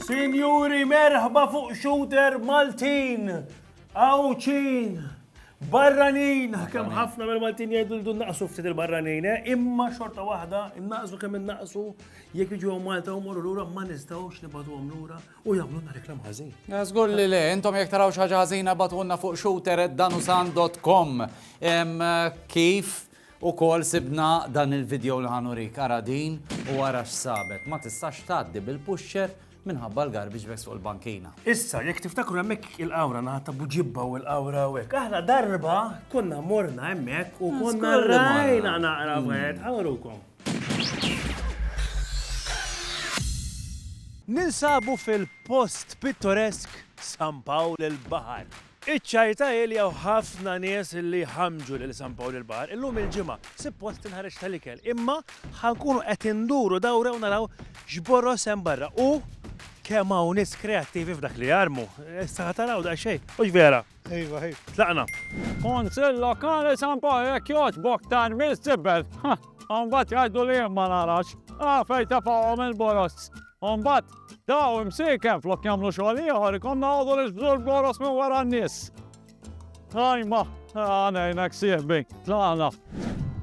Sinjuri, merħba fuq shooter Maltin! Awċin! Barranin! Kem ħafna mill Maltin jgħidu l naqsu ftit il-barranin, eh? imma xorta waħda, naqsu kemm naqsu, jekk iġu Malta u morru lura ma nistgħux nibgħatu lura. u jagħmluna reklam ħażin. Eh, żgur li le, intom jekk taraw xi ħaġa ħażina batunna fuq shooter@danusan.com. Eh, kif u kol sibna dan il-video li ħanurik ara din u ara x'sabet. Ma tistax tgħaddi bil-pusher minħabba l-garbage bags fuq il-bankina. Issa, jekk tiftakru hemmhekk il-qawra naħat ta' buġibba u l-qawra u hekk. Aħna darba konna morna hemmhekk u konna rajna naqra wieħed, ħawrukom. Ninsabu fil-post pittoresk San Pawl il-Baħar. Iċ-Ċajta iljaw ħafna nies li jħammġu lil San Pawl il-Baħar. Illum il-Ġimgħa sippost tinħareġ tal-ikel imma ħa nkunu qed induru dawra u naraw x'boroż hemm barra u kemm hawn nies kreattivi f'dak li jarmu. Issa ħa taraw daqsxejn, mhux vera? Iva, ħif. Tlaqna. Konsil lokali San Paul jekk jogħġbok tan mill sibbel. Umbat jgħidu li ma narax. Għafej ta' fawom il-borost. Umbat, daw imsiken flok jamlu xogħol ieħor ikom nagħdu li xbżu l-boros minn wara n-nies. Għajma, għanajnek sieħbi, tlaqna.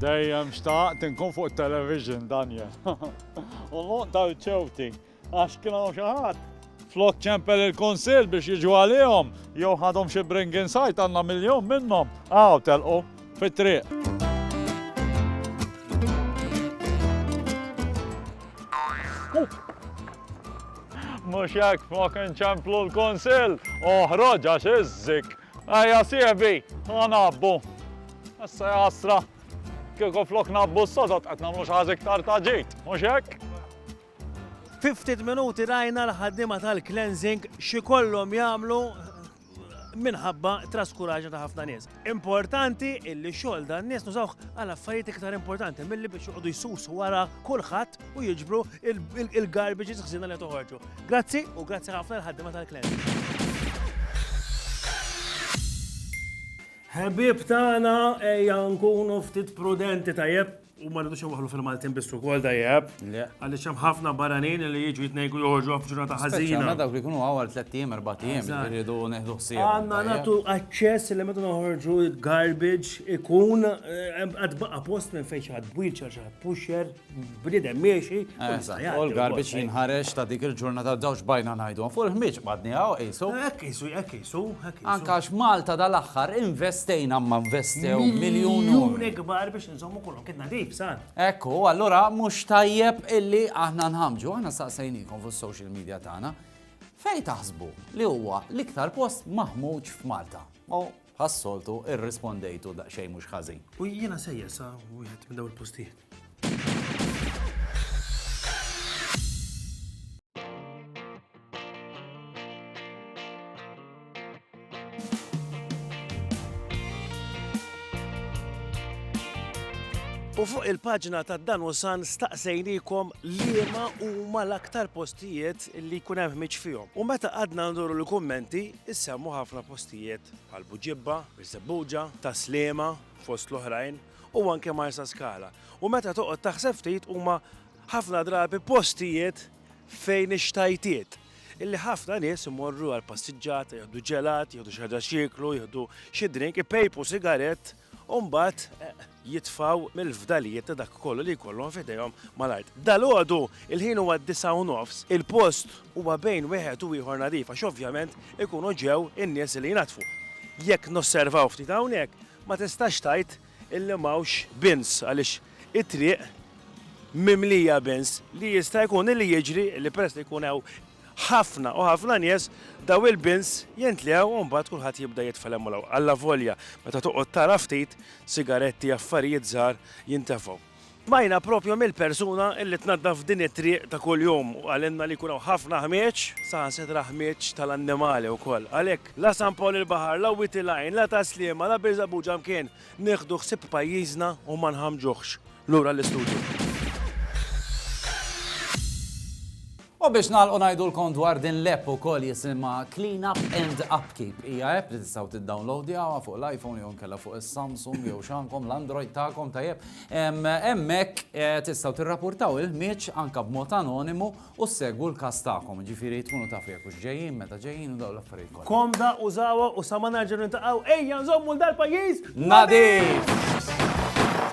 Dejjem xtaqt inkun fuq television, Daniel. U l-lok tal-ċewti. Għax kien hawn xi ħadd flok ċempel il-Kunsill biex jiġu għalihom jew ħadhom xi bring inside għandna miljun minnhom. Aw telqu fit-triq. Mhux hekk flok inċemplu l-Kunsill, oħroġ għax iżżik. Ejja sieħbi, ħanabbu. Issa jasra, kieku flok nabbu s-sodot qed nagħmlu xi ħaż iktar ta' ġid, mhux hekk? Fi ftit minuti rajna l-ħaddiema tal-cleansing x'ikollhom jagħmlu minħabba traskuraġa ta' ħafna nies. Importanti illi xogħol dan nies nużawh għal affarijiet iktar importanti milli biex joqogħdu jsusu wara kulħadd u jiġbru il-garbage ħsiena li toħorġu. Grazzi u grazzi ħafna l-ħaddiema tal-klient. Ħebib tagħna ejja nkunu ftit prudenti tajjeb. U ma rridux nwaħlu fil-Maltin biss ukoll dajjeb. Le. Għaliex hemm ħafna barranin li jiġu jitnejku joħorġu f'ġurnata Speċjalment ħażina. dawk li jkunu għawar tliet ijiem, erba' ijiem, Eżatt. irridu neħdu ħsieb. Għanna natu aċċess li meta noħorġu garbage ikun eh, għad baqa post minn fejn xi ħadd wheelchair, xi ħadd pusher, bniedem miexi. u jista' jgħaddi U wkoll. l-garbage jinħareġ ta' dik il-ġurnata dawx bajna ngħidu. Fuq il-ħmieġ badni għaw qisu. Hekk isu, hekk isu, hekk isu. Anka għax Malta dal-aħħar investejna ma investew miljun. Miljuni kbar biex Nżommu kollu kien nadif, san. Ekku, allura mhux tajjeb illi aħna nħamġu, aħna saqsejnikom fuq social media tagħna. Fej taħsbu li huwa l-iktar post maħmuġ f'Malta. U ħassoltu irrispondejtu daqsxejn mhux ħażin. U jiena sejja sa wieħed minn dawn il-postijiet. U fuq il-paġna ta' dan u san staqsejnikom liema huma l-aktar postijiet li jkun hemm ħmiġ fihom. U meta għadna nduru l-kummenti, issemmu ħafna postijiet bħal Buġibba, Biżebbuġa, Taslima, fost l-oħrajn, u anke Marsa Skala. U meta toqgħod taħseb ftit huma ħafna drabi postijiet fejn ix-xtajtiet, illi ħafna nies imorru għal passiġġata, jieħdu ġelat, jieħdu xi ħaġa x'jieklu, jieħdu xi drink, ipejpu sigarett u mbagħad jitfgħu mill-fdalijiet ta' dak kollu li jkollhom f'idejhom mal-art. Dalgħodu il-ħin huwa d-disgħa u nofs, il-post huwa bejn wieħed u ieħor nadif għax ovvjament ikunu ġew in-nies li jnaddfu. Jekk nosservaw ftit hawnhekk, ma tistax tgħid illi m'hawnx bins għaliex it-triq mimlija bins li jista' jkun li jiġri li peress li jkun hawn ħafna u ħafna nies dawn il-bins jintlew u mbagħad kulħadd jibda jitfa' 'l hemm u 'l hawn. Allavolja meta toqgħod tara ftit, sigaretti, affarijiet żgħar jintefgħu. Smajna proprju mill-persuna li tnaddaf din it-triq ta' kuljum u qalilna li jkun hawn ħafna ħmieġ, saħansitra ħmieġ tal-annimali wkoll. Għalhekk, la San Pawl il-Baħar, la Wied il-Għajn, la Tas-Sliema, la Birżebbuġa mkien Nieħdu ħsieb pajjiżna u ma nħammġuhx. Lura l-istudju. U biex nagħlqu ngħidulkom dwar din l-app ukoll jisimha Clean Up and Upkeep. Hija app li tistgħu tiddownloadjawha fuq l-iPhone jew inkella fuq is-Samsung jew x'għandkom l-Android tagħkom tajjeb. Em, Hemmhekk eh, tistgħu tirrapportaw il-ħmieġ anke b'mod anonimu U ssegwu l-każ tagħkom, jiġifieri tkunu tafu jekk hux ġejjin, meta ġejjin u dawn l-affarijiet kollha. Komda, użawha u sa ma nerġgħu niltaqgħu ejja nżommu l-dal-pajjiż nadif!